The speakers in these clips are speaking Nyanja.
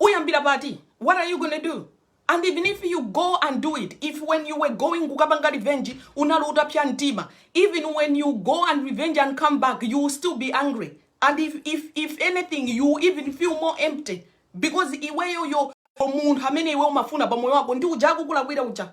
Uyambira pati? What are you gonna do? And even if you go and do it, if when you were going kukapanga revenge unali utapsa mtima, even when you go and revenge and come back, you will still be angry. And if if if anything, you will even feel more empty because iweyo yo munthu amene iwe umafuna pa moyo wako ndi uja akukulakwira uja.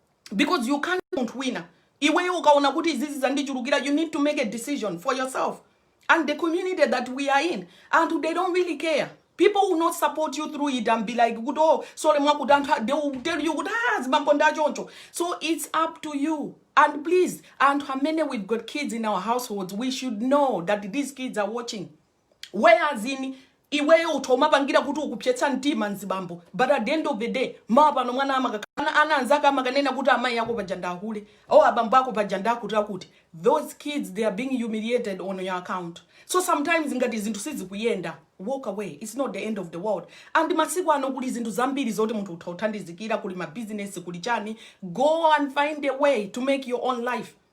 because you can't munthu wina iweyo ukaona kuti izizi zandichulukira you need to make a decision for yourself and the community that we are in and they don't really care people will not support you through it and be like kuti oh sole mwakuti anthu a-" they will tell you kuti ah zibambo ndi achoncho so it's up to you and please anthu amene we've got kids in our households we should know that these kids are watching whereas in iweyo utha kumapangira kuti ukupsetsa mtima mzibambo but at the end of the day mawa pano mwana amakanana anzake amakanena kuti amayi ako paja ndi ahule o abambo ako paja ndi akuti akuti those kids they are being humiliated on your account so sometimes ngati zinthu sizikuyenda walk away it's not the end of the world and masiku ano kuli zinthu zambiri zoti munthu utha kuthandizikira kuli mabizinesi kuli chani go and find a way to make your own life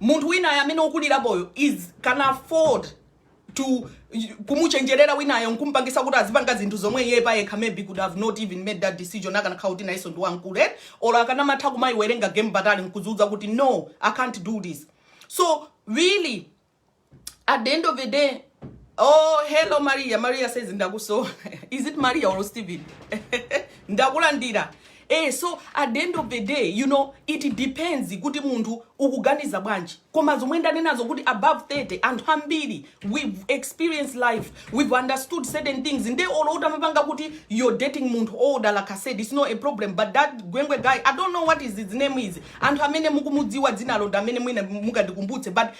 munthu winayo amene wokulirapoyo is can afford to kumuchenjerera winayo nkumpangisa kuti azipanga zinthu zomwe iye payekha maybe could have not even made that decision akanakhala kuti nayenso ndi wamkulu eh? or akanamatha kumayiwerenga game patali nkudziuza kuti no i can't do this so really at the end of the day oh hello maria maria says ndakusowa is it maria or stephen ndakulandira eh so at the end of the day you know it depends kuti munthu ukuganiza bwanji koma zomwe ndanenazo kuti above 30 anthu ambiri we've experienced life we've understood certain things nde olo utamapanga kuti you're dating munthu older like i said it's not a problem but that gwengwe guy i don't know what is his name is anthu amene mukumudziwa dzinalo nde mwina mundikumbutse but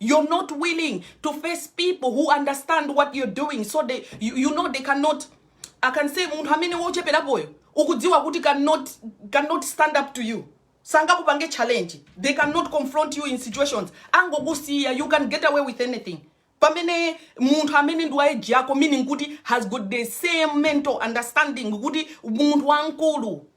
You're not willing to face people who understand what you're doing so they, you, you know they cannot I can say munthu amene wocheperapoyo ukudziwa kuti cannot, cannot stand up to you sangakupange challenge they cannot confront you in situations angokusiya you can get away with anything pamene munthu amene ndi wa age yako meaning kuti has got the same mental understanding kuti munthu wamkulu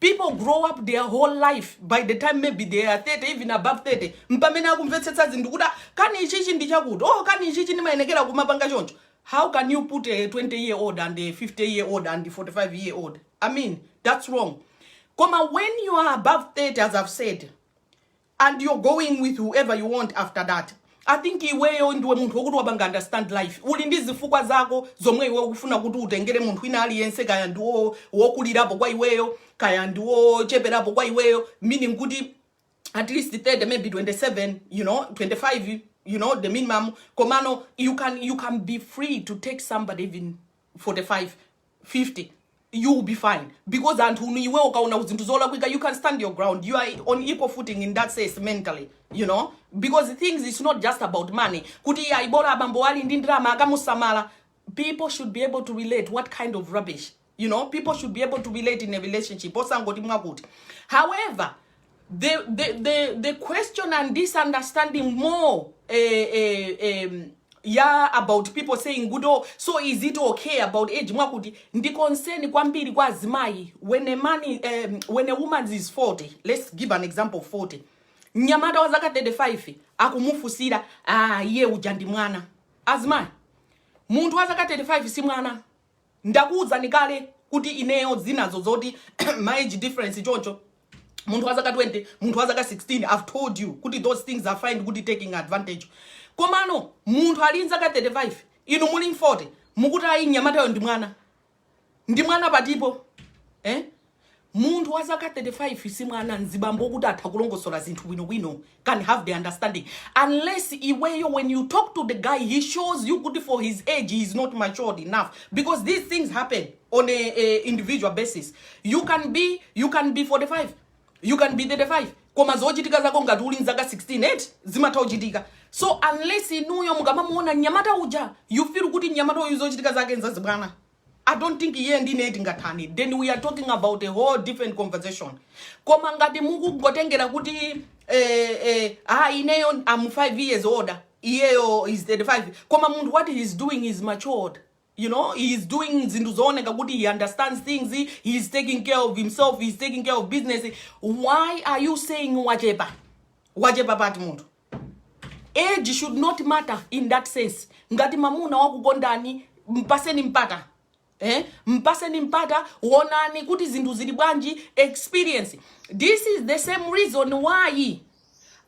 people grow up their whole life by the time maybe they are 30 even above 30 mpamene akumvetsetsa zinthu kuti "Ah, kani ichichi ndi chakuti oh kani ichichi ndimayenekera kumapanga choncho how can you put a 20 year old and a 50 year old and a 45 year old i mean that's wrong koma when you are above 30 as i've said and you're going with whoever you want after that, I think iweyo ndiwe munthu wokuti wapanga understand life, uli ndi zifukwa zako zomwe iwe ukufuna kuti utengere munthu wina aliyense kaya ndi wo- wokulirapo kwa iweyo kaya ndi wocheperapo kwa iweyo meaning kuti at least 30 maybe 27 you know 25 you know the minimum komano you can you can be free to take somebody even 45 50 you will be fine because anthunu iwe ukaona zinthu zolakwika you can stand your ground you are on equal footing in that sense mentally you know because things is not just about money kuti iye ayibola abambo ali ndi ndalama akamusamala people should be able to relate what kind of rubbish you know people should be able to relate in a relationship osangoti mwakuti however they, they, they, they question and misunderstanding more uh, uh, um, yeah about people saying kuti oh, so is it okay about age mwakuti ndi concern kwambiri kwa azimayi when a man um, when a woman is 40 let's give an example of 40 mnyamata wa zaka 35 akumufunsira ah iye uja ndi mwana azimayi munthu wa zaka 35 si mwana Ndakuuzani kale kuti ineyo zinazo zoti ma age difference choncho munthu wa zaka 20 munthu wa zaka 16 i've told you kuti those things I find kuti taking advantage komano munthu ali nzaka 35 inu muli 40 mukuti ayi mnyamatayo ndi mwana ndi mwana pati po eh? Munthu wa zaka 35 si mwana mzibambo wokuti atha kulongosola zinthu bwino bwino can have the understanding unless iweyo when you talk to the guy he shows you kuti for his age he is not matured enough because these things happen on a, a individual basis you can be you can be 45 you can be 35 koma zochitika zako ngati uli mzaka 16 eti zimatha kuchitika so unless inuyo mukamamuona mnyamata uja you feel kuti mnyamata uyu zochitika zake nzazibwana I don't think iye ndi ine tingathane then we are talking about a whole different conversation koma ngati mukungotengera kuti eh, eh, ah, ineyo am 5 years older iyeyo is 35 koma munthu what he is doing is matured you know he is doing zinthu zooneka kuti he understands things he is taking care of himself he is taking care of business why are you saying wachepa wachepa pati munthu Age should not matter in that sense. Ngati mamuna wakukondani mpaseni mpata. Eh? Mpaseni mpata wonani kuti zinthu zili bwanji experience. This is the same reason why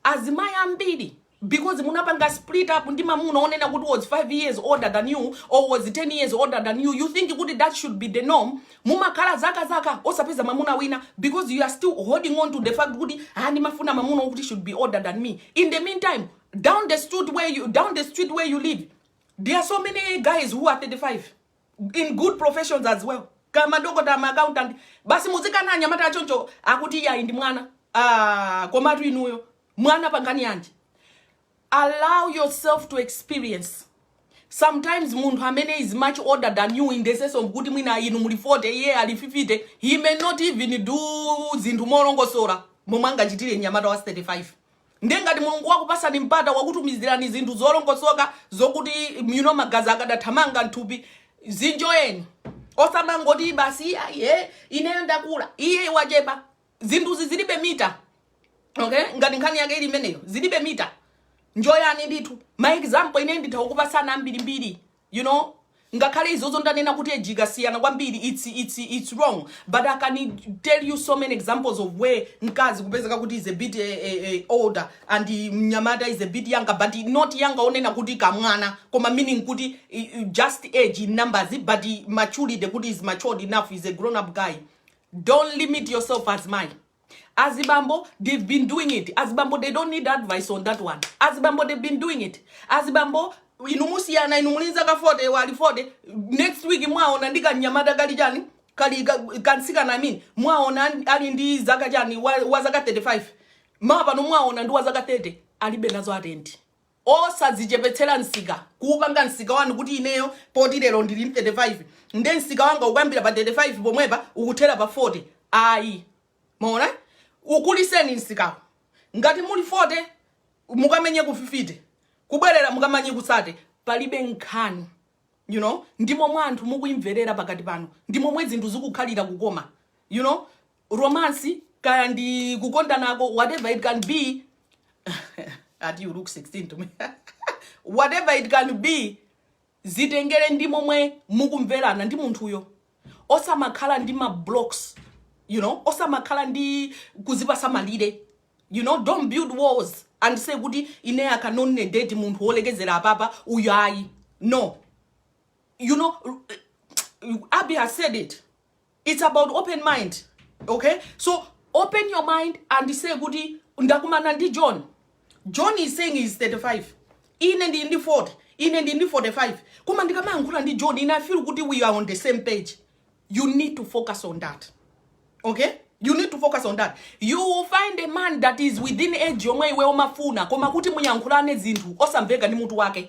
azimai ambiri because munapanga split up ndi mamuna onena kuti was 5 years older than you or was 10 years older than you you think kuti that should be the norm Mumakhala zaka zaka osapeza mwamuna wina because you are still holding on to the fact kuti ah ndimafuna mwamuna wokuti should be older than me. In the meantime, down the street where you down the street where you live, there are so many guys who are 35 in good professions as well. Kaya madokotala ma accountant basi muzikana anyamata achoncho akuti yayi ndi mwana. Ah, komatu inuyo, mwana pangani yanji. allow yourself to experience sometimes munthu amene is much older than you in the sense of kuti mwina inu muli 40 iye ali 50 he may not even do zinthu molongosola momwe angachitire mnyamata wa 35 ndiye ngati mulungu wakupasani mpata wakutumizirani zinthu zolongosoka zokuti you know magazi akadathamanga mthupi zinjoyani osamangoti basi aye ineyo ndakula iye wachepa zinthuzi zilibe mita okay ngati nkhani yake ili imeneyo zilibe mita njoyani ndithu ma example ine nditha kukupasani ambirimbiri you know ngakhale izozo ndanena kuti age ikasiyana kwambiri it's, it's, it's wrong but i can tell you so many examples of where mkazi kupezeka kuti is a bit eh, eh, eh, older and mnyamata is a bit younger but not younger onena kuti kamwana koma meaning kuti eh, eh, just age in numbers but maturity kuti is matured enough is a grown up guy Don't limit yourself azimayi. Azibambo they've been doing it. Azibambo they don't need advice on that one. Azibambo they've been doing it. Azibambo inu mukasiyana inu muli nzaka 40 wali 40 next week mwaona ndi kanyamata kali chani kali ka- kamtsikana I mean mwaona an- ali ndi zaka chani wa, wa zaka 35 mawa pano mwaona ndi wa zaka 30 alibe nazo atendi Osadzichepetsera msika, kuupanga msika wanu kuti ineyo poti lero ndili ndi 35 nde msika wanga ukuyambira pa 35 pomwepa ukuthera pa 40 ayi mwaona ukulitseni msikawo ngati muli 40 mukamenye ku 50 kubwerera mukamenye ku 30 palibe nkhani you know ndi momwe anthu mukuimverera pakati panu ndi momwe zinthu zikukhalira kukoma you know. romance kaya ndi kukondanako whatever it can be ati you look 16 to me whatever it can be zitengere ndi momwe mukumverana ndi munthuyo osamakhala ndi ma blocks you know osamakhala ndi kudzipatsa malire you know don't build walls and say kuti ine I can only date munthu wolekezera apapa uyu ayi no you know abby has said it its about open mind ok so open your mind and say kuti ndakumana ndi john john is saying he's 35 ine ndili ndi 40 ine ndili ndi 45 koma ndikamayankhula ndi john and I feel kuti we are on the same page you need to focus on that okay you need to focus on that you will find a man that is within age yomwe iwe umamufuna koma kuti muyankhulane zinthu osamveka ndi mutu wake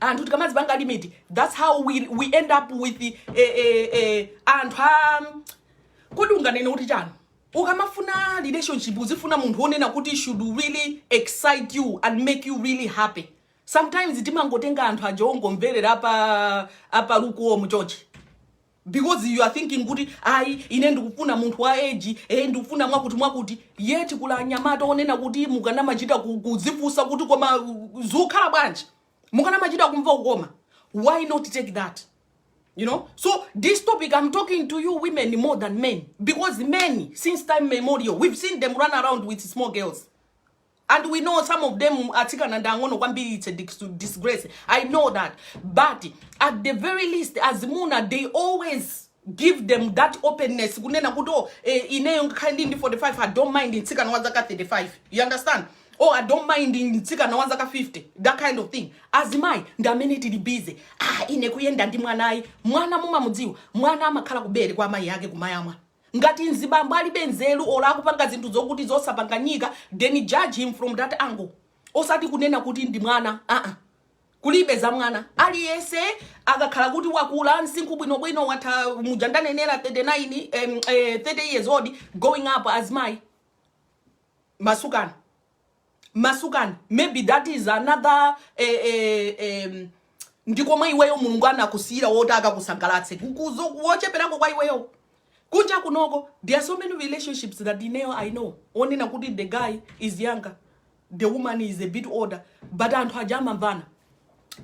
anthu tikamadzipanga limit that's how we, we end up with eh, eh, eh, anthu a kodi unganene kuti chani ukamafuna relationship uzifuna munthu onena kuti should really excite you and make you really happy sometimes timangotenga anthu aja ongomverera apa apa lukuwo muchochi because you are thinking kuti ayi ine ndikufuna munthu wa age eh ndikufuna mwakuti mwakuti yet kuli anyamata onena kuti mukanamachita ku- kudzifunsa kuti koma uh, zikukhala bwanji mukanamachita kumva kukoma why not take that you know so this topic i'm talking to you women more than men because men since time memorial we've seen them run around with small girls and we know some of them atsikana ndi ang'ono kwambiri it's a dis- disgrace i know that but at the very least azimuna they always give them that openness kunena kuti oh, eh, ineyo ngakhale ndili ndi 45 i don't mind mtsikana wa zaka 35 you understand oh i don't mind mtsikana wa zaka 50 that kind of thing azimayi ndi amene tili busy ah ine kuyenda ndi mwanayi mwana mumamudziwa mwana amakhala kubere kwa amayi ake kumayamwa Ngati mzibambo alibe nzeru olo akupanga zinthu zokuti zosapanganyika then judge him from that angle osati kunena kuti ndi mwana aa kulibe za mwana aliyense akakhala kuti wakula msinkhu bwinobwino watha muja ndanenera 30 uja em, eh, 30 years old going up azimayi masukani masukani maybe that is another eh, eh, em, ndi komwe iweyo mulungu anakusiyira woti akakusangalatse wocheperako kwa iweyo kunja kunoko there are so many relationships that ineyo I know onena kuti the guy is younger the woman is a bit older but anthu aja amamvana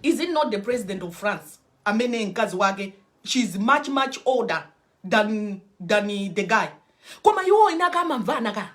is it not the president of france amene mkazi wake she is much much older than than the guy koma iwo ena akamamvana ka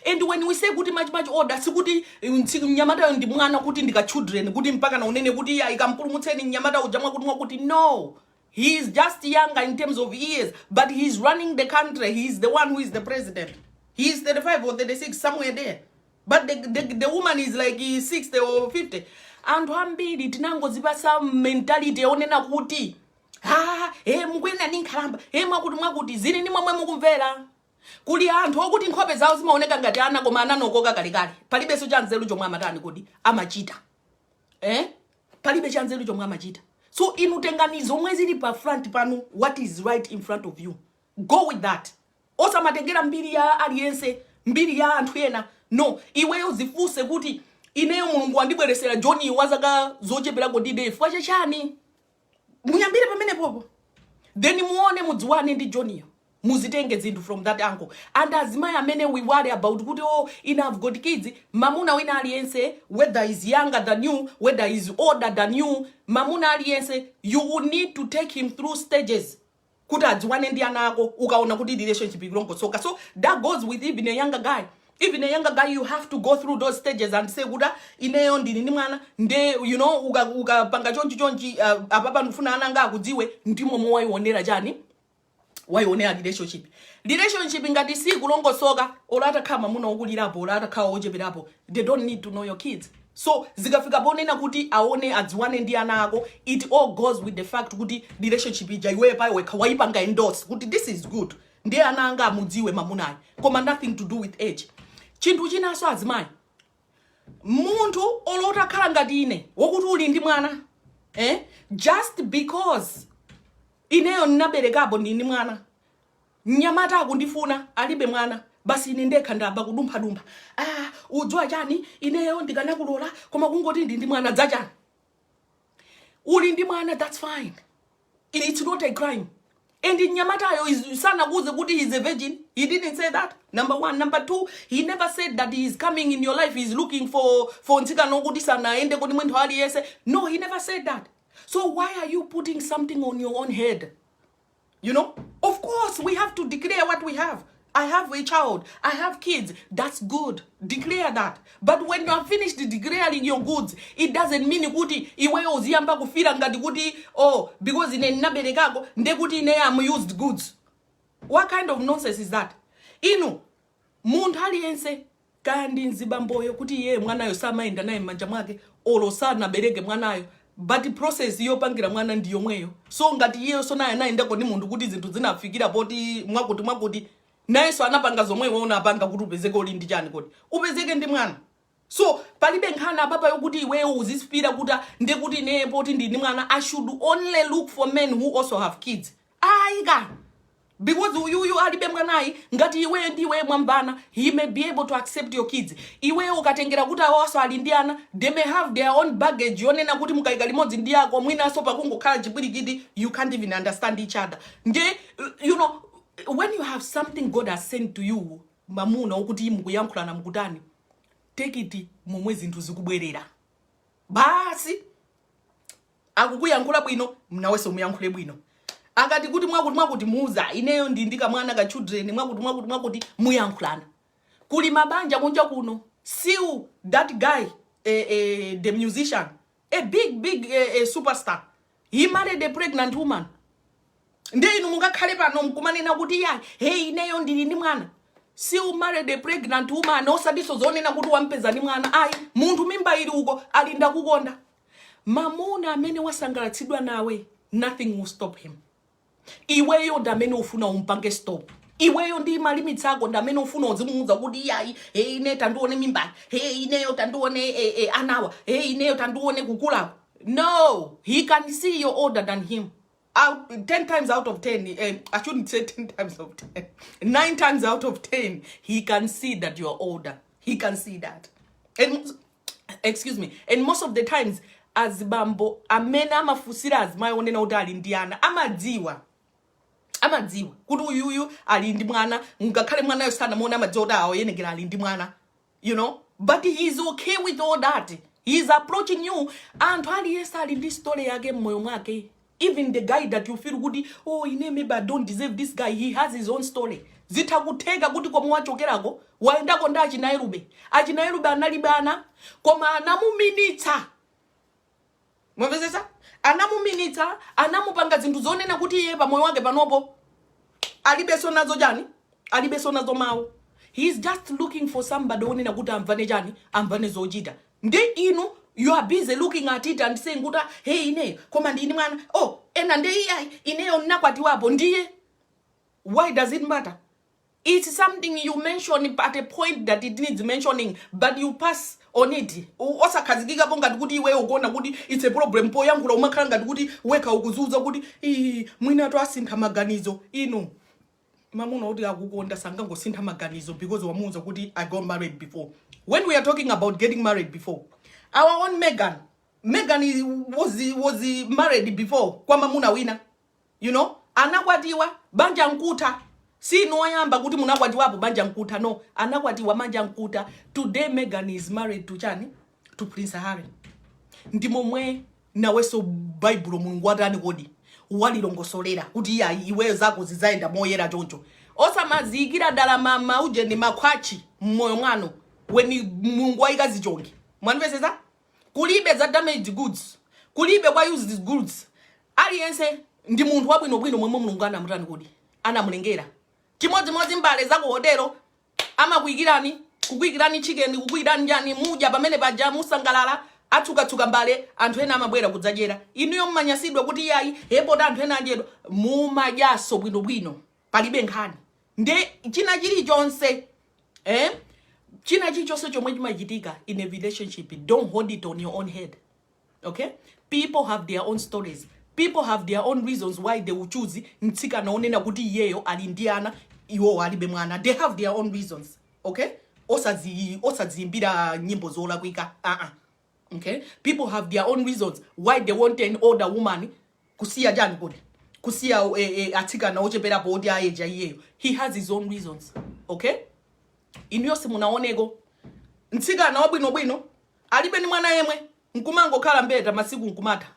and when we say kuti much much older sikuti mm, tsi- mnyamatayo ndi mwana kuti ndi ka children kuti mpakana unene kuti iya ikampulumutseni mnyamata uja mwakuti mwakuti no he is just younger in terms of years but he is running the country he is the one who is the president he is 35 or 36 somewhere there but the, the, the woman is like eh, 60 or 50 anthu ambiri tinangodzipatsa mentality yonena kuti ha e mukuyenda ndi nkhalamba e mwakuti mwakuti zili ndi momwe mukumvera kuli anthu okuti nkhope zawo zimaoneka ngati ana koma anakhokoka kalekale palibenso cha nzeru chomwe amatani kodi amachita eh? palibe cha nzeru chomwe amachita so inu tengani zomwe zili pa front panu what is right in front of you go with that osamatengera mbiri ya aliyense mbiri ya anthu ena no iweyo dzifunse kuti ineyo mulungu wandibweretsera joni wa zaka zocheperako nde chifukwa chachani muyambire pamenepopo then muone mudziwane ndi joniyo muzitenge zinthu from that angle and azimayi amene we worry about kuti oh, ine I have got kids mamuna wina aliyense whether he's younger than you whether he's older than you mamuna aliyense you will need to take him through stages kuti adziwane ndi ana ako ukaona kuti relationship ikulongosoka so that goes with even a younger guy even a younger guy you have to go through those stages and say kuti "Ah, ineyo ndili ndi mwana nde you know uka- ukapanga chonchi chonchi uh, apapa ndikufuna ana anga akudziwe ndimo mmene waionera chani waionera relationship relationship ngati sikulongosoka olo atakhala mamuna okulirapo olo atakhala ocheperapo they don't need to know your kids So zikafika ponena kuti aone adziwane ndi ana ako it all goes with the fact kuti relationship ija iwe pa iwe wekha waipanga endorse kuti this is good ndiye ana anga amudziwe mamunayo koma nothing to do with age chinthu chinanso azimayi munthu olo utakhala ngati ine wokuti uli ndi mwana eh? just because ineyo ndinaberekapo ndili ndi mwana Mnyamata akundifuna alibe mwana basi ine ndekha ndayamba kudumphadumpha. Ah, udziwa chani ineyo ndikanakulola koma kungoti ndili ndi mwana zachani. Uli ndi mwana that's fine. It- It's not a crime. And mnyamatayo sanakuuze kuti he's a virgin. He didn't say that. Number one. Number two, he never said that he is coming in your life. He's looking for for mtsikana woti sanayende ndi munthu aliyense. No, he never said that. So why are you putting something on your own head? You know, of course, we have to declare what we have. I have a child. I have kids. That's good. Declare that. But when you are finished declaring your goods, it doesn't mean kuti iweyo uziyamba kufira ngati kuti oh because ine ndinaberekako nde kuti ine am used goods. What kind of nonsense is that? Inu Munthu aliyense, kaya ndi mzibamboyo kuti iyeyo mwanayo samayenda naye mmanja mwake or sanabereke mwanayo but process yopangira mwana ndi yomweyo so ngati iyeyonso naye anayendako ndi munthu kuti zinthu zinafikira poti mwakuti mwakuti nayenso anapanga zomwe iwe unapanga kuti upezeke uli ndi chani kodi? Upezeke ndi mwana. So palibe nkhani apapa yokuti iweyo uzisipira kuti ndekuti ineye poti ndili ndi mwana I should only look for men who also have kids. Ayi ka. Because uyuyu alibe mwanayi ngati iweyo ndi iweyo mwambana he may be able to accept your kids. Iweyo ukatengera kuti awaso ali ndi ana they may have their own baggage yonena kuti mukayika limodzi ndi yako mwinaso pakungokhala chipwirikiti you can't even understand each other. Nde you know when you have something God has sent to you mamuna wokuti mukuyankhulana mukutani take it momwe zinthu zikubwerera basi akukuyankhula bwino nawenso muyankhule bwino akati kuti mwakuti mwakuti muza ineyo ndi ndikamwana ka children mwakuti mwakuti mwakuti muyankhulana kuli mabanja kunja kuno Seal that guy eh, eh, the musician a big big eh, eh, superstar He married a pregnant woman. Ndiye inu mungakhale pano mkumanena kuti ayi, hey ineyo ndili ndi mwana. Seal married a pregnant woman osatiso zonena kuti wampeza ndi mwana. Ayi, munthu mimba ili uko ali ndakukonda. Mamuna amene wasangalatsidwa nawe, nothing will stop him. iweyo ndamene ufuna umpange stop iweyo ndi malimitsi ako ndamene ufuna uzimuuza kuti iyayi e ine tandione mimbali e ineyo tandione e, e, anawa e ineyo tandione kukulako no he can see you're older than him out, 10 times out of 10 eh, i shouldn't say 10 times of 10 9 times out of 10 he can see that you're older he can see that and excuse me and most of the times azibambo amene amafunsira azimayi onena kuti ali ndi ana amadziwa amadziwa kuti uyuyu ali ndi mwana ngakhale mwanayo sanamuona amadziwa kuti aoyenekera ali ndi mwana you know but he is okay with all that he is approaching you anthu aliyense ali ndi story yake mmoyo mwake even the guy that you feel kuti oh ine maybe i don't deserve this guy he has his own story zitha kutheka kuti komwe wachokerako wayendako ndi achinaerube achinaerube analibe ana koma anamuminitsa mwamvetsetsa anamuminitsa anamupanga zinthu zonena kuti iye pamoyo wake panopo alibenso nazo chani alibenso nazo mawu he is just looking for somebody onena kuti amvane chani amvane zochita Nde inu you are busy looking at it and saying kuti ah, hey ineyo koma ndili ndi mwana oh ena nde iyayi ineyo nnakwatiwapo ndiye why does it matter it's something you mention at a point that it needs mentioning but you pass on it U- osakhazikikapo ngati kuti iweyo ukuona kuti it's a problem poyankhula umakhala ngati kuti wekha ukuziuza kuti "Ii, mwinatu asintha maganizo inu mamuna oti akukonda sangangosintha maganizo because wamuuza kuti i got married before when we are talking about getting married before our own megan megan is- was, was married before kwa mamuna wina you know anakwatiwa banja nkutha si inu oyamba kuti munakwatiwapo banja nkutha no anakwatiwa banja nkutha today megan is married to chani to prince harry ndi momwe nawenso baibulo mulungu watani kodi walilongosolera kuti iya iweyo zako zidzayenda moyera choncho osamaziyikira ndalama mauje ndi makhwatchi mmoyo mwanu weni mulungu wayika zichongi mwandimvetsetsa kulibe za damaged goods kulibe kwa used goods aliyense ndi munthu wabwinobwino momwe mulungu anamutani kodi anamulengera chimodzimodzi mbale za ku hotelo amakuikirani kukuikirani chicken kukuikirani chani mudya pamene paja musangalala atsukatsuka mbale anthu ena amabwera kudzadyera inuyo mumanyasidwa kuti iyayi apa pota anthu ena adyera mumadyaso bwinobwino palibe nkhani nde china chilichonse eh? china chilichonse chomwe chimachitika in a relationship don't hold it on your own head okay people have their own stories people have their own reasons why they will choose mtsikana onena kuti iyeyo ali ndi ana iwowo alibe mwana they have their own reasons okay osazi osazimbira nyimbo zolakwika uh-uh. okay people have their own reasons why they want an older woman kusiya chani kodi kusiya eh, eh, atsikana ocheperapo oti a age ya iyeyo he has his own reasons okay inuyo simunaoneko mtsikana wabwinobwino Alibe ndi mwana yemwe, n'kumangokhala mbeta masiku n'kumatha.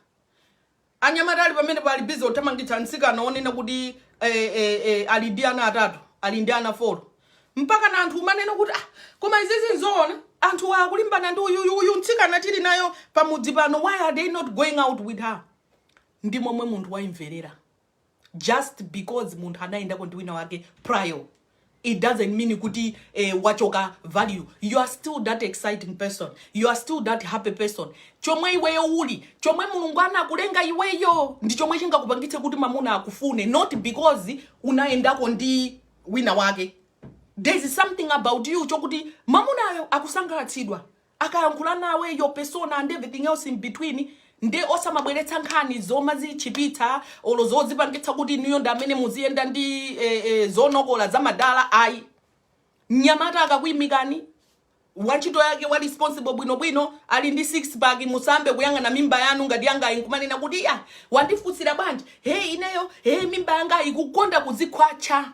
Anyamata ali pamenepo ali bize kuthamangitsa mtsikana wonena kuti eh, eh, eh, ali ndi ana atatu, ali ndi ana folo. Mpakana anthu umanena kuti ah, koma izizi nzoona anthu akulimbana ndi uyuyu uyu mtsikana tili naye pamudzi pano, why are they not going out with her? Ndi momwe munthu waimverera. just because munthu anayendako ndi wina wake prior it doesn't mean kuti eh, wachoka value you are still that exciting person you are still that happy person chomwe iweyo uli chomwe mulungu anakulenga iweyo ndi chomwe chingakupangitse kuti mamuna akufune not because unayendako ndi wina wake there's something about you chokuti mamunayo akusangalatsidwa akayankhula nawe your persona and everything else in between nde osamabweretsa nkhani zomazitchipitsa olo zodzipangitsa kuti inuyo ndi amene muziyenda ndi eh, eh, zonokola zamadala ayi mnyamata akakuimikani wantchito yake wa responsible bwinobwino ali ndi six pack musayambe kuyang'ana mimba yanu ngati yangayi nkumanena kuti ya wandifunsira bwanji hey ineyo hey mimba yangayi kukonda kuzikhwatcha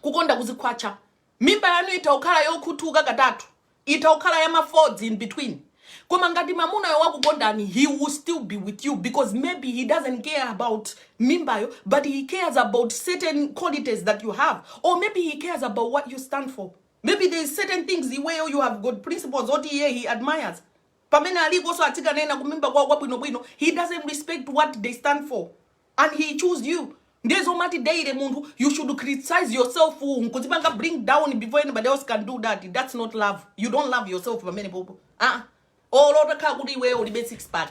kukonda kuzikhwatcha Mimba yanu itha kukhala yokhuthuka katatu, itha kukhala ya ma folds in between, koma ngati mamunayo wakukondani he will still be with you because maybe he doesn't care about mimbayo but he cares about certain qualities that you have or maybe he cares about what you stand for, maybe there is certain things iweyo you have got principles oti iye he admires. Pamene alikoso atsikana ena kumimba kwawo kwabwinobwino he doesn't respect what they stand for. and he choose you ndiye zoomati daily munthu you should criticize yourself nkuzipanga bring down before anybody else can do that that's not love you don't love yourself pamene popo ah olo utakhala kuti iweyo ulibe six pack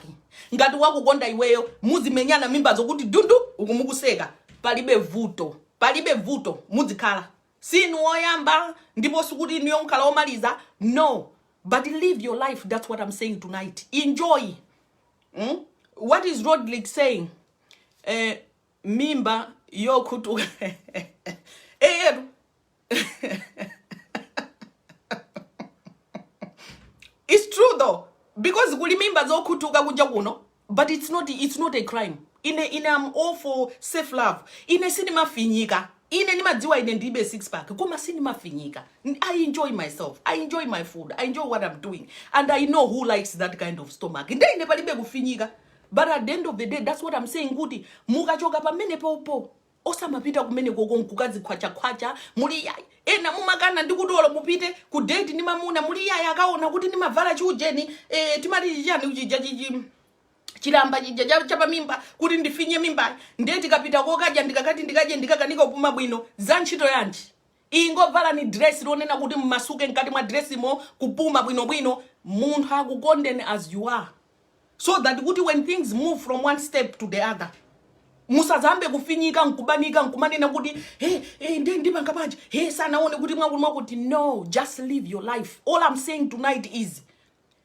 ngati wakukonda iweyo muzimenyana mimba zokuti dundu uku mukuseka palibe vuto palibe vuto mudzikhala sinu woyamba ndipo sikuti inuyo mkhala omaliza no but live your life that's what i'm saying tonight enjoy mm? what is rodrick saying eh, mimba yokhutuka eyetu it's true though because kuli mimba zokhutuka kunja kuno but it's not, it's not a crime Ine, ine am all for self love. Ine sindimafinyika. Ine ndimadziwa ine ndilibe six pack koma sindimafinyika. N- I enjoy myself. I enjoy my food. I enjoy what I'm doing. And I know who likes that kind of stomach. Nde ine palibe kufinyika. But at the end of the day, that's what I'm saying kuti mukachoka pamene popo osamapita kumene koko nkukazikhwachakhwacha muli yayi ena mumakana ndi kuti olo mupite ku date ndi mwamuna muli yayi akaona kuti ndimavala chiujeni eh, timati chichani chija chichi chilamba chija cha- chapamimba kuti ndifinye mimbayo ndiye tikapita kokadya ndikakati ndikadye ndikakanika kupuma bwino za ntchito yanji ingovalani dress lonena kuti mmasuke mkati mwa dressimo kupuma bwinobwino munthu akukondeni as you are so that kuti when things move from one step to the other musazayambe kufinyika nkubanika nkumanena kuti hey, hey, ndi ndipanga bwanji hey, sanaone kuti mwakuti mwakuti no just live your life all i'm saying tonight is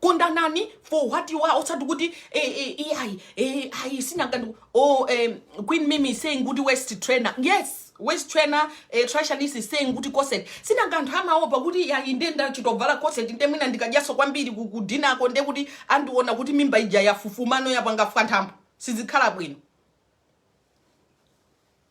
kondanani for what you are osati kuti eh, eh, eh, ayi eh, ayi sinanga anthu oh, eh, queen mimi is saying kuti waist trainer yes waist trainer eh, trashanis is saying kuti corset sinanga anthu amaopa kuti yayi nde ndachitovala corset nde mwina ndikadyaso kwambiri ku- kudinnerko nde kuti andiona kuti mimba ija yafufuma no yapanga fwanthambo sizikhala bwino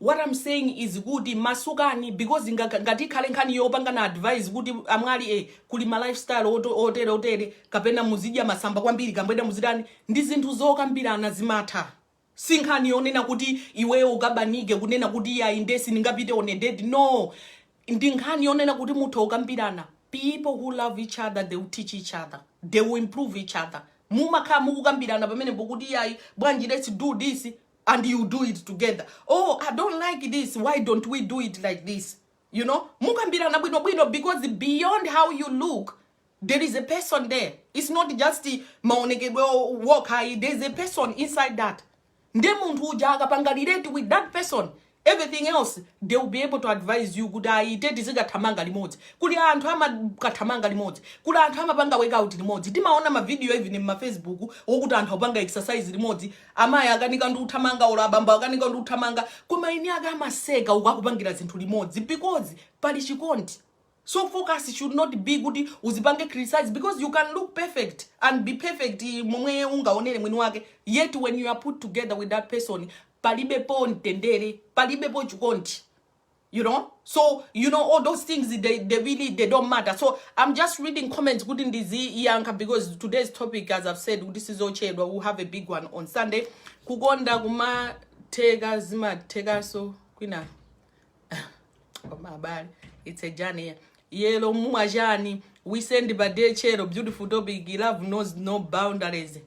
what am saying is kuti masukani because nga, ngati ikhale nkhani yopangana advise kuti amwali eh, kuli ma lifestyle oto- otere otere kapena muzidya masamba kwambiri kambweda muzitani ndi zinthu zokambirana zimatha si nkhani yonena kuti iweyo ukabanike kunena kuti yayi nde sindingapite on a date no ndi nkhani yonena kuti mutha ukambirana people who love each other they will teach each other they will improve each other mumakhala mukukambirana pamenepo kuti yayi bwanji let's do this and you do it together oh i don't like this why don't we do it like this you know mukambirana bwino bwino because beyond how you look there is a person there it's not just the maonekedwe o- wokha ayi there is a person inside that nde munthu uja akapangalirate with that person everything else they will be able to advise you kuti ayi te tizikathamanga limodzi kuli anthu amakathamanga limodzi kuli anthu amapanga workout limodzi timaona mavidiyo even mmafacebook wokuti anthu akupanga exercise limodzi amayi akanika ndi uthamanga olo abambo akanika ndi uthamanga koma ine akamaseka uku akupangira zinthu limodzi because pali chikondi So focus should not be kuti uzipange criticize because you can look perfect and be perfect momwe ungaonere mwini wake yet when you are put together with that person palibepo mtendere palibepo chikondi you know so you know all those things they, they really they don't matter so i'm just reading comments kuti ndiziyankha because today's topic as i've said kuti sizochedwa we'll have a big one on sunday kukonda kumatheka zimathekaso kwina koma abale it's a journey yelo mumwa chani we send by day chero beautiful topic love knows no boundaries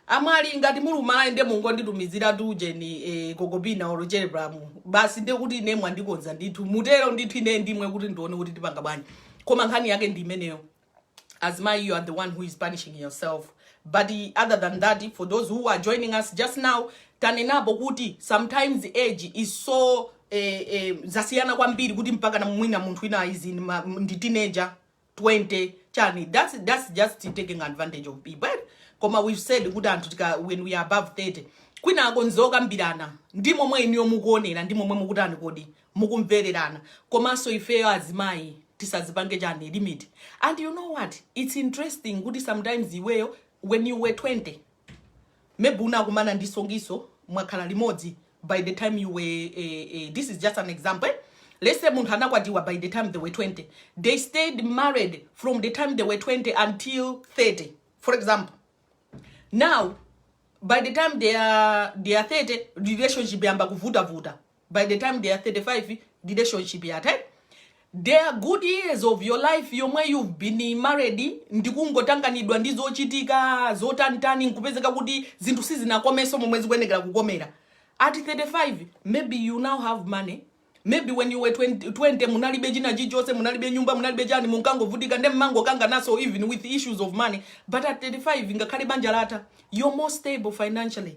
amwali ngati mulumala ende mungonditumizira tuje ni eh, kokopina olo telegram basi nde kuti ine mwandikonza ndithu mutero ndithu ine ndimwe kuti ndione kuti tipanga bwanji koma nkhani yake ndi imeneyo as my you are the one who is punishing yourself but eh, other than that eh, for those who are joining us just now tanenapo kuti sometimes age is so eh, eh, zasiyana kwambiri kuti mpaka na mwina munthu wina is in ma, ndi teenager 20 chani that's, that's just taking advantage of people eh? koma we've said kuti anthu tika when we are above 30 kwina uko nzokambirana ndi momwe inuyo mukuonera ndi momwe mukutani kodi mukumvererana komanso ifeyo azimayi tisadzipange chani limit and you know what it's interesting kuti sometimes iweyo when you were 20 maybe unakumana ndi songiso mwakhala limodzi by the time you were eh, eh, this is just an example eh? let's say munthu anakwatiwa by the time they were 20 they stayed married from the time they were 20 until 30 for example now by the time they are, they are 30 relationship yamba kuvutavuta by the time they are 35 relationship yatha there are good years of your life yomwe you've been married ndikungotanganidwa ndi zochitika zotantani nkupezeka kuti zinthu sizinakomenso momwe zikuyenekera kukomera at 35 maybe you now have money maybe when you were 20, 20 munalibe china chichonse munalibe nyumba munalibe chani munkangovutika nde mmangokangananso even with issues of money but at 35 ngakhale banja latha you're more stable financially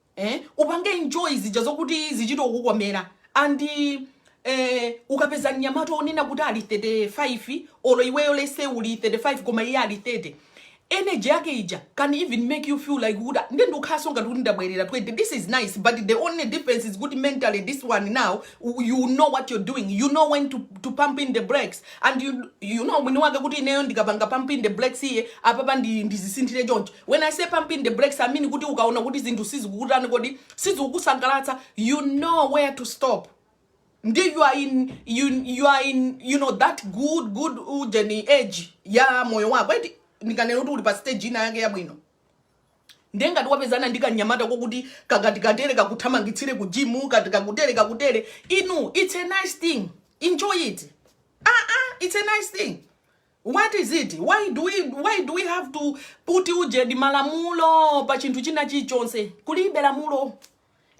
eh upange enjoy zija zokuti zichito kukukomera and eh ukapeza mnyamata wonena kuti ali 35 olo iweyo lese uli 35 koma iye ali 30 energy yake ija can even make you feel like kuti nde ndikukhalanso ngati kuti ndabwerera 20 this is nice but the only difference is kuti mentally this one now u- you know what you're doing you know when to, to pump in the brakes and you, you know mwini wake kuti ineyo ndikapanga pump in the brakes here apapa ndi- ndidzisinthire choncho When I say pump in the brakes, I mean kuti ukaona kuti zinthu sizikukutani kodi sizikukusangalatsa, you know where to stop. Ndi you are in you, you are in you know that good good ujeni age ya moyo wako. Eti ndikanena kuti uli pa stage ina yake yabwino. Ndiye ngati wapezana ndi kanyamata kokuti kakati katere kakuthamangitsire ku gym kati kakutere kakutere inu it's a nice thing enjoy it ah ah it's a nice thing What is it? why do we why do we have to put ujedi malamulo pa chinthu china chilichonse? Kulibe lamulo.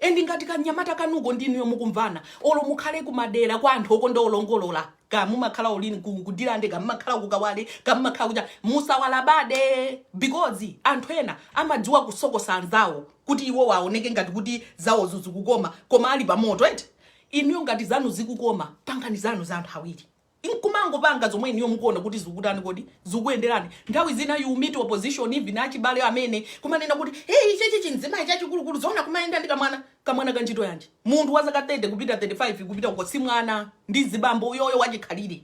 Endi ngati kanyamata kanuko ndinuyo mukumvana olo mukhale kumadera kwa anthu okonda olongolola ka mumakhala olini ku- kuNdirande ka mumakhala kukawale ka mumakhala kuja musawalabade because anthu ena amadziwa kusokosa anzawo kuti iwo aoneke ngati kuti zawozo zikukoma koma ali pamoto eti inuyo ngati zanu zikukoma pangani zanu za anthu awiri nkumangopanga zomwe inuyo mukuona kuti zikutani kodi zikukuyenderani nthawi zina you meet opposition even achibale amene kumanena kuti hey ichichi chinzimayi chachikulukulu zoona kumayenda ndi kamwana kamwana ka ntchito yanji munthu wa zaka 30 kupita 35 kupita uko si mwana ndi chibambo uyoyo wachikhalire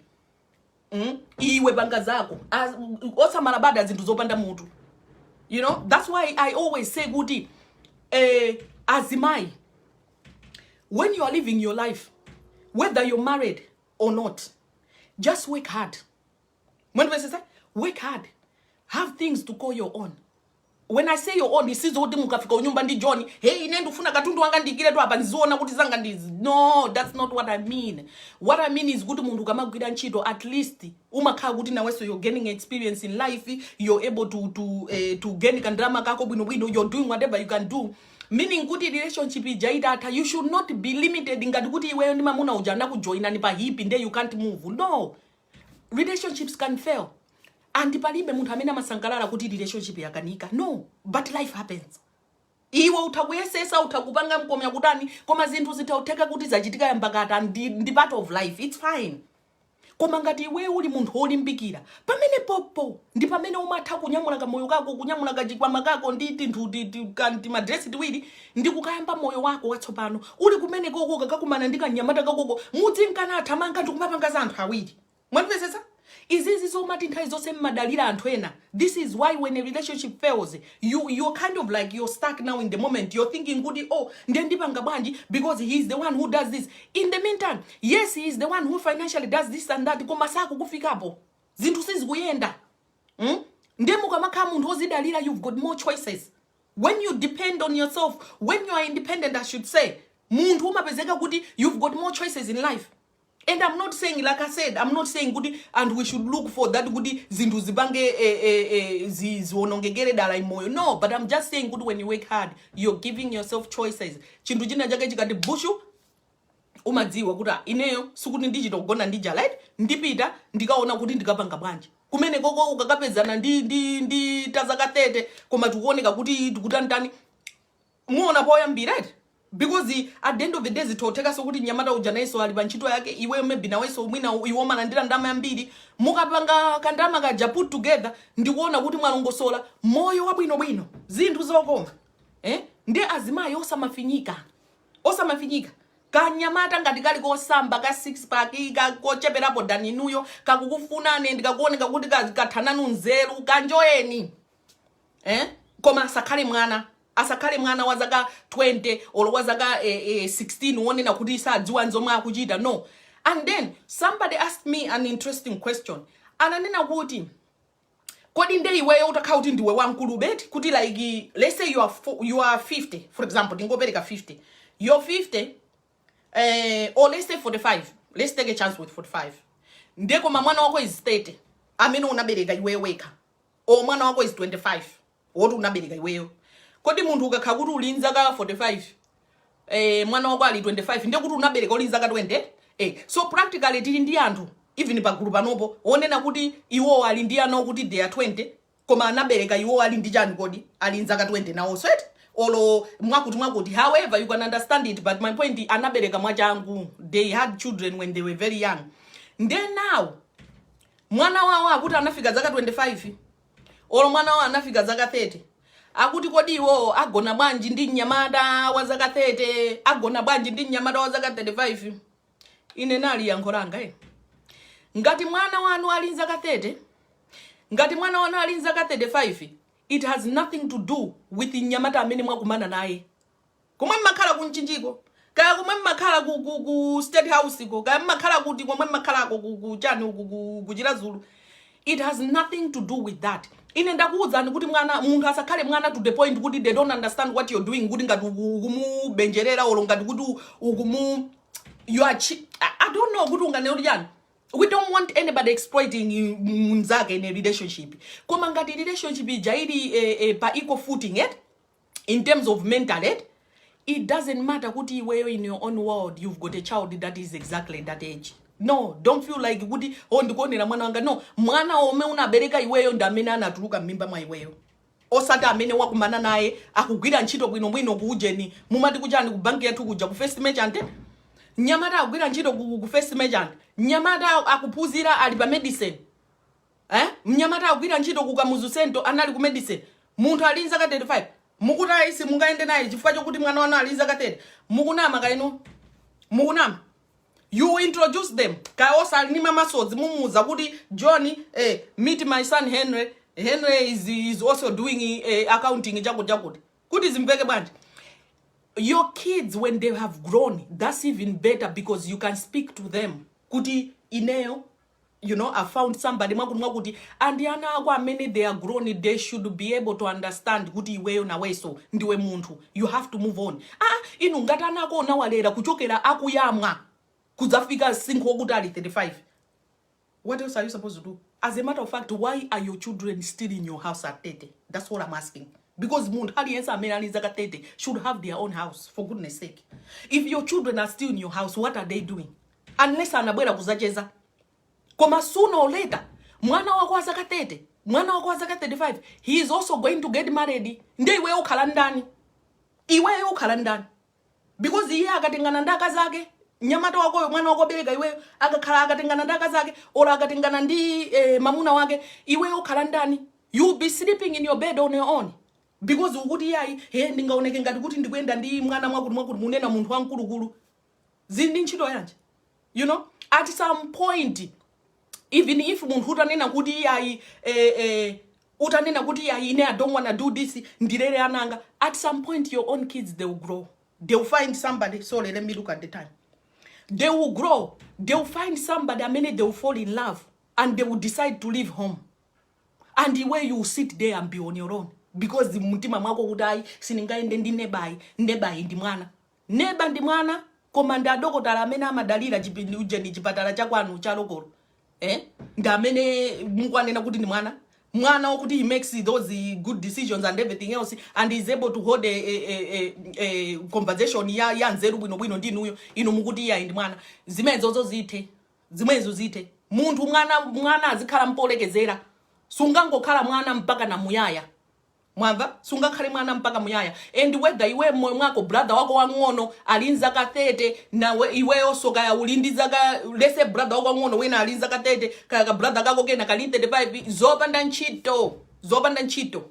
mm? iwe panga zako As- osamalabada zinthu zopanda mutu you know that's why i always say kuti eh, azimayi when you are living your life whether you're married or not just work hard when i say work hard have things to call your own when i say your own sizoti mukafika m'nyumba ndi john hey ine ndikufuna katundu wanga ndiyikiretu apa ndiziwona kuti zanga ndizi no that's not what i mean what i mean is kuti munthu ukamagwira ntchito at least umakhala kuti nawenso you're gaining experience in life you're able to, to, eh, to gain kandalama kako bwinobwino you're doing whatever you can do meaning kuti relationship ija itatha you should not be limited ngati kuti iweyo ndi mamuna uja anakujoinani pa hipi nde you can't move no relationships can fail andi palibe munthu amene amasangalala kuti relationship yakanika no but life happens iwe utha kuyesesa utha kupanga mkomya kutani koma zinthu zitha kutheka kuti zachitika yambakata ndi, ndi part of life its fine koma ngati iweyo uli munthu wolimbikira pamenepopo ndi pamene umatha kunyamula kamoyo kako kunyamula kachikwama kako ndi tinthu ti- ti- ka- timadresi tiwiri ndi kukayamba moyo wako watsopano uli kumenekoko kakakumana ndi kanyamata kakoko mudzinka nathamanga ndi kumapanga za anthu awiri mwamvetsetsa izizi zomati nthawi zonse mmadalira anthu ena This is why when a relationship fails, you you're kind of like you're stuck now in the moment. You're thinking, Goody, oh, then ndipanga bwanji because he is the one who does this. In the meantime, yes, he is the one who financially does this and that. Koma sakukufikapo. Zinthu sizikuyenda. Mm? Nde mukamakhala munthu ozidalira, you've got more choices. When you depend on yourself, when you are independent, I should say, munthu umapezeka kuti you've got more choices in life. and am not saying like i said am not saying kuti and we should look for that kuti zinthu zipange eh, eh, eh, zi- zionongekere dala m'moyo no but am just saying kuti when you work hard you're giving yourself choices chinthu china chake chikati bushu umadziwa kuti ah, ineyo sikuti ndichita kugona ndi njala eti ndipita ndikaona kuti ndikapanga bwanji kumenekoko ukakapezana ndi ndi ndi tazaka 30 koma tikuoneka kuti tikutanitani Muona poyambira eti because at the end of the day zithothekaso kuti mnyamata uja nayeso ali pa ntchito yake iweyo maybe naweso mwina iwe umalandira ndalama yambiri mukapanga kandalama kaja put together ndikuona kuti mwalongosola moyo wabwinobwino zinthu zokoma eh? ndi azimayi osamafinyika osamafinyika kanyamata ngati kali kosamba ka six pack ka- kocheperapo than inuyo kakukufunani ndikakuoneka kuti ka- katha nanu nzeru kaenjoyeni eh? koma asakhale mwana Asakhale mwana wa zaka 20 or wa zaka eh, eh, 16 wonena kuti sadziwa nzomwe akuchita no and then somebody asked me an interesting question ananena kuti kodi nde iweyo utakhala kuti ndiwe wamkulu eti kuti like let's say you are, fo- you are 50 for example tingopereka 50 you're 50 eh, or let's say 45 let's take a chance with 45 nde koma mwana wako is 30 amene unabereka iweyo wekha or mwana wako is 25 woti unabereka iweyo kodi munthu ukakhala kuti uli nzaka 45 eh, mwana wako ali 25 ndiye kuti unabereka uli nzaka 20 eh, so practically tili ndi anthu even pagulu panopo wonena kuti iwo ali ndi ana okuti they are 20 koma anabereka iwo ali ndi chani kodi ali nzaka 20 nawo so eti olo mwakuti mwakuti however you can understand it but my point anabereka mwachangu they had children when they were very young nde now mwana wawo akuti anafika zaka 25 olo mwana wawo anafika zaka 30 akuti kodi iwowo agona bwanji ndi mnyamata wa zaka 30 agona bwanji ndi mnyamata wa zaka 35 ine ndili yankho langa eh. ngati mwana wanu ali nzaka 30 ngati mwana wanu ali nzaka 35 it has nothing to do with mnyamata amene mwakumana naye Komwe mmakhala ku Mchinjiko, kaya komwe mmakhala ku, ku, ku State House ko, kaya mmakhala kuti komwe mmakhalako ku, ku chani uku ku, ku Chiradzulu. It has nothing to do with that. Ine ndakuwuzani kuti munthu asakhale mwana to the point kuti they don't understand what you're doing kuti ngati uku- ukumubenjerera olo ngati kuti u- ukumu you are chi- I, I don't know kuti unganena kuti chani. We don't want anybody exploiting you- mnzake in a relationship. Koma ngati relationship ija ili eh, eh, pa equal footing, eh? in terms of mentally it doesn't matter kuti iweyo in your own world you've got a child that is exactly that age no don't feel like kuti oh ndikugona mwana wanga no mwana omwe unabereka iweyo ndi amene anatuluka m'mimba mwa iweyo osati amene wakumana naye akugwira ntchito bwinobwino ku ujeni mumati kuchani ku banki yathu kuja ku first merchant nyamata akugwira ntchito ku, ku first merchant nyamata akuphunzira ali pa medicine eh? mnyamata akugwira ntchito ku kamuzu central anali ku medicine munthu ali nzaka 35 mukuti ayi simungayende naye chifukwa chokuti mwana wanu ali nzaka 30 mukunama ka inu mukunama you introduce them kaya osali ni masozi mumuuza kuti john eh, meet my son henry henry is, is also doing eh, accounting chakuti chakuti kuti zimveke bwanji your kids when they have grown that's even better because you can speak to them kuti ineyo you know i found somebody mwakuti mwakuti and ana ako amene they are grown they should be able to understand kuti iweyo naweso ndiwe munthu you have to move on ah inu ngati ana ako unawalera kuchokera akuyamwa kudzafika msinkhu wokuti ali 35 what else are you supposed to do as a matter of fact why are your children still in your house at 30 that's what i'm asking because munthu aliyense amene ali zaka 30 should have their own house for goodness sake if your children are still in your house what are they doing unless anabwera kuzacheza koma sooner or later mwana wako wa zaka 30 mwana wako wa zaka 35 he is also going to get married nde iweyo ukhala ndani iweyo ukhala ndani because iye akatengana ndi akazi ake nyamata wakoyo mwana wako obereka iweyo akakhala akatengana ndi akazi ake or akatengana ndi eh, mamuna wake iweyo ukhala ndani you be sleeping in your bed on your own because ukuti yayi he ndingaoneke ngati kuti ndikuyenda ndi mwana mwakuti mwakuti munena munthu wamkulukulu zili ndi ntchito yanji you know at some point even if munthu utanena kuti iyayi eh, eh, utanena kuti iyayi ine i don't wanna do this ndilere ananga at some point your own kids they will grow they will find somebody sorry let me look at the time they will grow they will find somebody amene they will fall in love and they will decide to leave home and iwe you will sit there and be on your own because mtima mwako kuti ayi sindingayende ndi nebayi nebayi ndi mwana Neba ndi mwana koma ndi adokotala amene mumadalira chipindi ujeni chipatala cha kwanu cha lokolo eh? ndi amene mukuwanena kuti ndi mwana mwana wakuti he makes those good decisions and everything else and is able to hold a, a, a, a, a conversation ya, ya nzeru bwinobwino ndi inuyo inu mukuti iyayi ndi mwana zimenezo zithe zimenezo zithe munthu mwana mwana azikhala mpolekezera sungangokhala mwana mpaka na muyaya mwamva sungakhale mwana mpaka muyaya and whether iwe mmoyo mwako brother wako wang'ono ali nzaka 30 nawe iweyonso kaya uli ndi zaka lese brother wako wang'ono wena ali nzaka 30 kaya ka brother kako kena kali 35 zopanda ntchito zopanda ntchito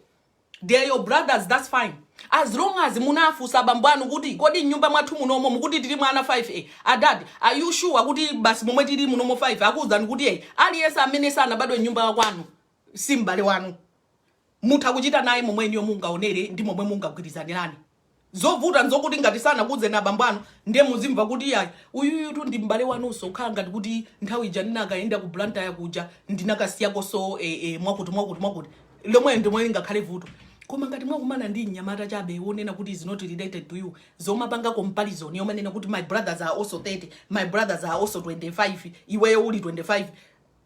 they are your brothers that's fine as long as munafunsa abambo anu kuti kodi nyumba mwathu munomo mukuti tilimo ana 5 a adad are you sure kuti basi momwe tili munomo 5 akuwuzani kuti eyi aliyense amene sanabadwe mnyumba yakwanu si m'bale wanu mutha kuchita naye momwe inuyo mungaonere ndi momwe mungagwirizanirane zovuta nzokuti ngati sanakuuzeni abambo anu ndiye muzimva kuti yayi uyuyutu ndi m'bale wanunso kukhala ngati kuti nthawi ija ndinakayenda ku blantyre kuja ndinakasiyakonso eh, eh, mwakuti mwakuti mwakuti lomwe ndi lomwe lingakhale vuto koma ngati mwakumana ndi mnyamata chabe wonena kuti is not related to you zomapanga comparison yomanena kuti my brothers are also 30 my brothers are also 25 iweyo uli 25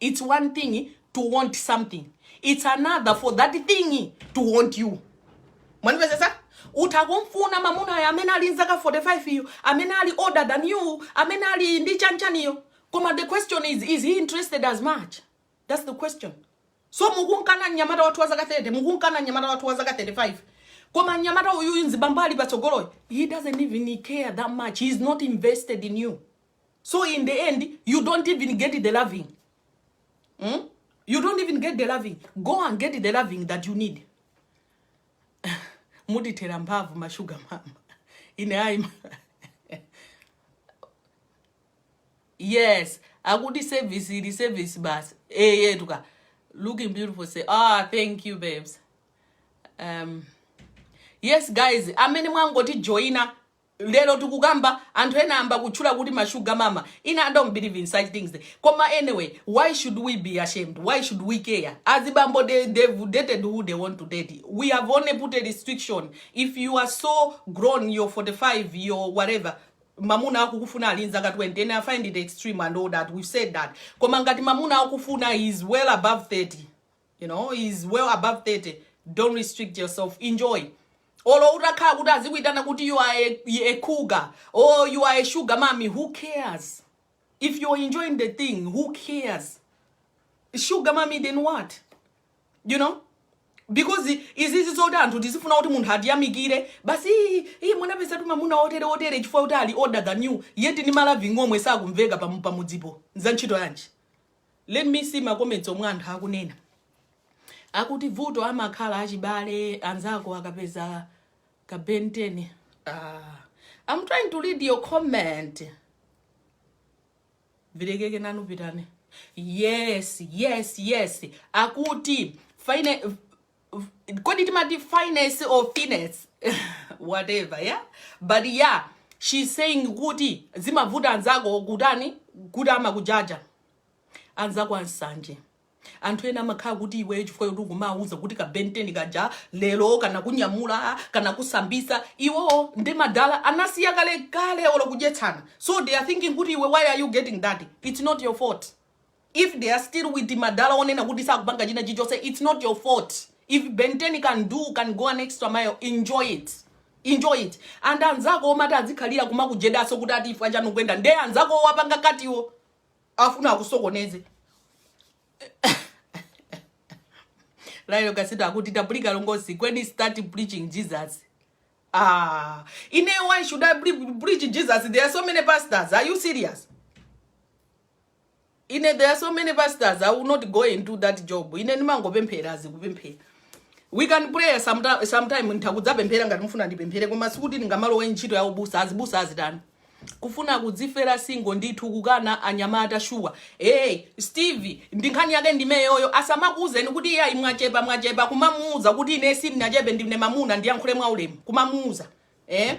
it's one thing to want something it's another for that thing to want you mwanipezetsa utha kumfuna mamunayo amene ali nzaka 45 iyo amene ali older than you amene ali ndi chanchaniyo koma the question is is he interested as much that's the question so mukumkana mnyamata wathu wa zaka 30 mukumkana mnyamata wathu wa zaka 35 koma mnyamata uyuyu mzibambo ali patsogoloyo he doesn't even care that much he is not invested in you so in the end you don't even get the loving mm? you don't even get the loving go and get the loving that you need mutithera mphamvu mashuga mama ine ayi yes akuti service ili service basi eyetuka eh, looking beautiful say ah thank you babes um yes guys amene mwangoti joina Lero tikukamba anthu ena ayamba kutchula kuti ma sugar mama ine I don't believe in such things koma any way why should we be ashamed why should we care azibambo dey they've dated who dey want to date we have only put a restriction if you are so grown your 45 your whatever mamuna akukufuna ali nzaka 20 ine I find it extreme and all that we've said that koma ngati mamuna akufuna he is well above 30 you know is well above 30 don't restrict yourself enjoy olo utakhala kuti azikuitana kuti you are a, a cougar or you are a sugar mommy who cares if you're enjoying the thing who cares sugar mommy then what you know because izizi zoti anthu tizifuna kuti munthu atiyamikire basi "Ii, ii munapezatu mamuna otere otere chifukwa kuti ali older than you yet ni ma loving omwe sakumveka pamu- pamudzipo za ntchito yanji Let me see ma comments omwe anthu akunena. Akuti vuto amakhala achibale ansanje akapeza ka Ben 10. Ah, I'm trying to read your comment. vilekeke nanu pitane yes yes yes akuti fine f- kodi timati finesse or finesse whatever yeah but yeah she's saying kuti zimavuta anzako kutani kuti amakujaja anzako ansanje anthu ena amakhala kuti iweyo chifukwa yoti ukumawuza kuti ka Ben 10 kaja lero kanakunyamula kanakusambitsa iwowo ndi madala anasiya kale kale olo kudyetsana so they are thinking kuti iwe why are you getting that it's not your fault if they are still with madala onena kuti sakupanga china chilichonse it's not your fault if Ben 10 can do can go an extra mile enjoy it enjoy it and anzako omati adzikhalira kumakujedanso kuti ati ifu achanukwenda nde anzako opanga cut-wo afuna akusokoneze layo kasita akuti tapulika longosi when you start preaching jesus ah ine why should i pre- preach jesus there are so many pastors are you serious ine there are so many pastors i will not go into that job ine ndimangopemphera azikupemphera we can pray sometime, sometime ntakudzapemphera ngati mufuna ndipemphere koma sikuti ndingamalowe ntchito ya ubusa azibusa azitani kufuna kudzifera single ndithu kukana anyamata shuwa hey, steve ndi nkhani yake ndimeyoyo asamakuuzeni kuti iye ayi mwachepa mwachepa kumamuuza kuti ine sindinachepe ndine mamuna ndiyankhule mwaulemu kumamuuza eh?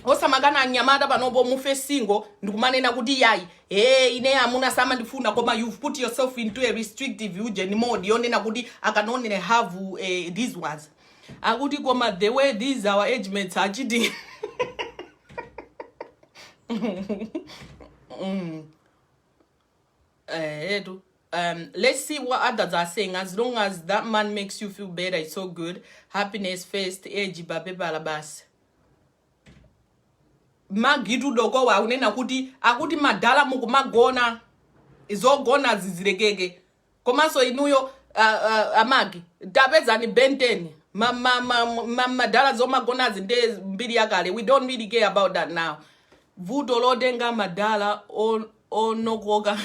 osamakana anyamata panopo mufe single ndikumanena kuti yayi ee ine amuna samandifuna koma you've put yourself into a restrictive ujeni mode yonena kuti I can only have eh, these ones akuti koma the way these our age mates are cheating mm. eh, etu um, let's see what others are saying as long as that man makes you feel better it's so good happiness first age pa pepala basi Maggie tu dokowo akunena kuti akuti madala mukumagona izogona zizirekeke komanso inuyo uh, uh, a Maggie tapezani Ben 10 madala ma, ma, ma, zomagonazi nde mbiri yakale we don't really care about that now vuto lotenga madala onokoka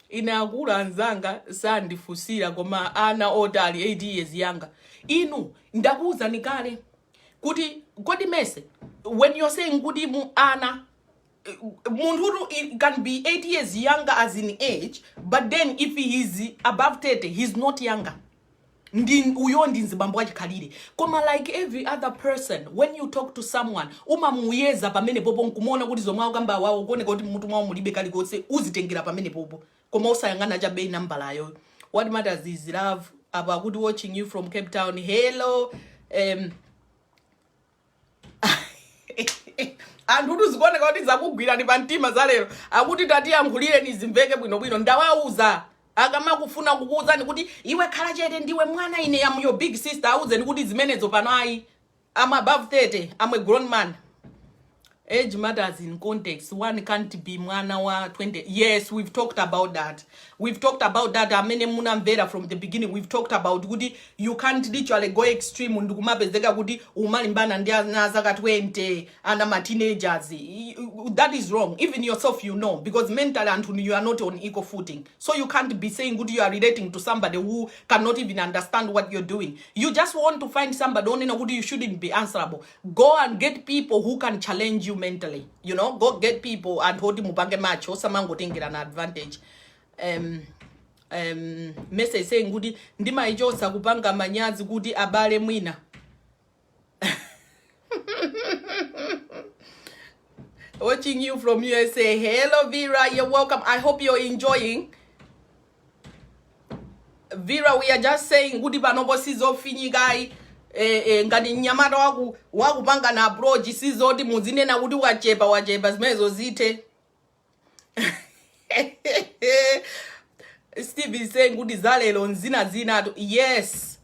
ine akuluanzanga sandifusira koma ana otali 8 years younger inu ndakuwuzani kale kuti kodi mesa when you're saying kuti mu ana munthutu i- can be 8 years younger as in age but then if he is above 30 he is not younger ndi uyo ndi mzibambo wachikhalire koma like every other person when you talk to someone umamuyeza pamenepopo nkumuona kuti zomwe akukamba awawo kuoneka kuti mutu mwawo mulibe kalikonse uzitengera pamenepopo koma osayang'ana chabe nambalayo what matters is love apa akuti watching you from cape town hello um, anthutu zikuoneka kuti zakugwirani pa mtima za lero akuti tatiyankhulireni zimveke bwinobwino ndawauza akamafuna kukuuzani kuti iwe khala chete ndiwe mwana ine I'm your big sister auzeni kuti zimenezo pano ayi I'm above 30 I'm a grown man Age matters in context, one can't be mwana wa 20, yes we've talked about that, we've talked about that amene munamvera from the beginning, we've talked about kuti you can't literally go extreme ndikumapezeka kuti umalimbana ndi ana azaka 20, ana ma teenagers, Y- y- that is wrong, even yourself you know, because mentally anthu you are not on equal footing, so you can't be saying kuti you are relating to somebody who cannot even understand what you're doing, you just want to find somebody onena kuti you shouldn't be answerable, go and get people who can challenge you mentally you know go get people anthu oti mupange match osamangotengerana advantage um, um, message saying kuti ndimaichotsa kupanga manyazi kuti abale mwina watching you from usa hello vera you're welcome i hope you're enjoying Vera, we are just saying kuti panopo sizofinyikayi eh, eh, ngati mnyamata waku wakupangani approach sizoti muzinena kuti wachepa wachepa zimenezo zithe Steve is saying kuti zalero nzinazinatu yes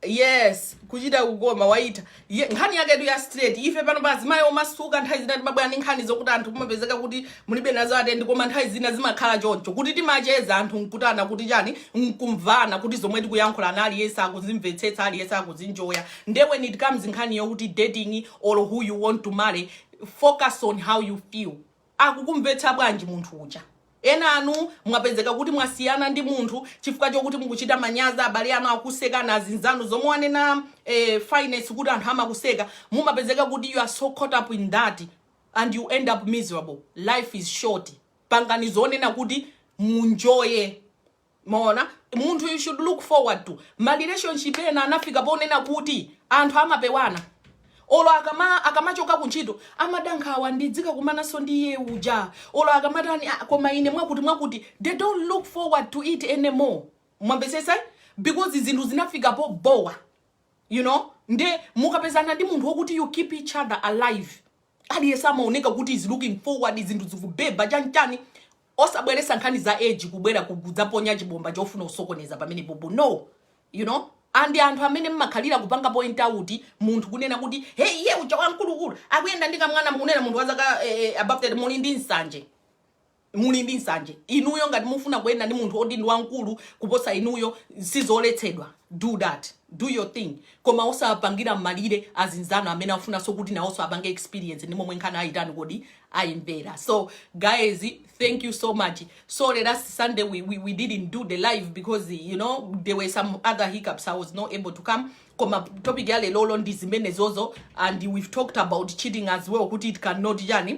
Yes kuchita kukoma waitha Ye, nkhani yaketu ya straight ife pano pa azimayi omasuka nthawi zina timabwera ndi nkhani zokuti anthu kumapezeka kuti mulibe nazo attend koma nthawi zina zimakhala choncho kuti timacheza anthu nkutana kuti chani nkumvana kuti zomwe tikuyankhulana aliyense akuzimvetsetsa aliyense akuzinjoya nde when it comes nkhani yokuti dating or who you want to marry focus on how you feel Akukumvetsa bwanji munthu uja? Ena inu mwapezeka kuti mwasiyana ndi munthu chifukwa chokuti mukuchita manyazi abale anu akukusekani, azinzanu, zomwe wanena a Finess kuti anthu amakuseka, mumapezeka kuti you are so caught up in that and you end up miserable. Life is short. Pangani zonena kuti munjoye. Mwaona, munthu you should look forward to ma relationship ena anafika ponena kuti anthu amapewana olo akamachoka kuntchito amada nkhawa ndizikakumananso ndi iye uja olo akamatani "Ah, koma ine mwakuti mwakuti they don't look forward to it anymore mwamvetsetsa because zinthu zinafika pobowa you know nde mukapezana ndi munthu wokuti you keep each other alive aliyense amaoneka kuti is looking forward zinthu zikubeba chanchani osabweretsa nkhani za age kubwera ku kudzaponya chibomba chofuna kusokoneza pamenepopo no you know and anthu amene mmakhalira kupanga point out munthu kunena kuti hey iye uja wamkulukulu akuyenda ndi kamwana mukunena munthu wazaka eh, eh, above that muli ndi nsanje muli ndi nsanje inuyo ngati mufuna kuyenda ndi munthu oti ndi wamkulu kuposa inuyo sizoletsedwa do that do your thing koma osapangira malire azinzanu amene afunanso kuti nawonso apange experience ndi momwe nkhaniyo ayitani kodi ayimvera so guys thank you so much sorry last sunday we, we, we didn't do the live because you know there were some other hiccups i was not able to come koma topic ya lerolo ndi zimenezozo and we've talked about cheating as well kuti it cannot yani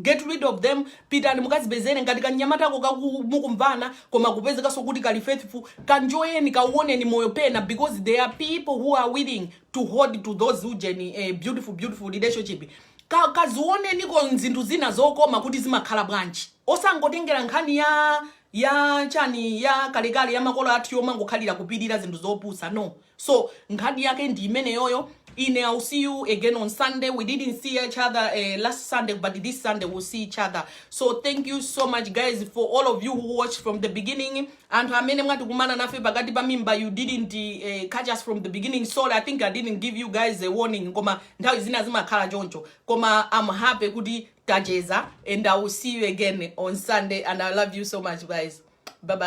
Get rid of them, pitani mukazipezere ngati kanyamatako mukumvana koma kupezekanso kuti kali faithful, kanjoyeni kauoneni moyo pena because there are people who are willing to hold to those ujeni eh, beautiful beautiful relationship Ka, kazioneniko zinthu zina zokoma kuti zimakhala bwanji osangotengera nkhani ya ya chani ya kalekale ya makolo athu yomangokhalira kupirira zinthu zopusa no so nkhani yake ndi imeneyoyo ine i'll see you again on sunday we didn't see each other uh, last sunday but this sunday we'll see each other so thank you so much guys for all of you who watched from the beginning anthu amene mwatikumana nafe pakati pa mimba you didn't uh, catch us from the beginning sorry i think i didn't give you guys a warning koma nthawi zina zimakhala choncho koma i'm happy kuti tacheza and i will see you again on sunday and i love you so much guys bye bye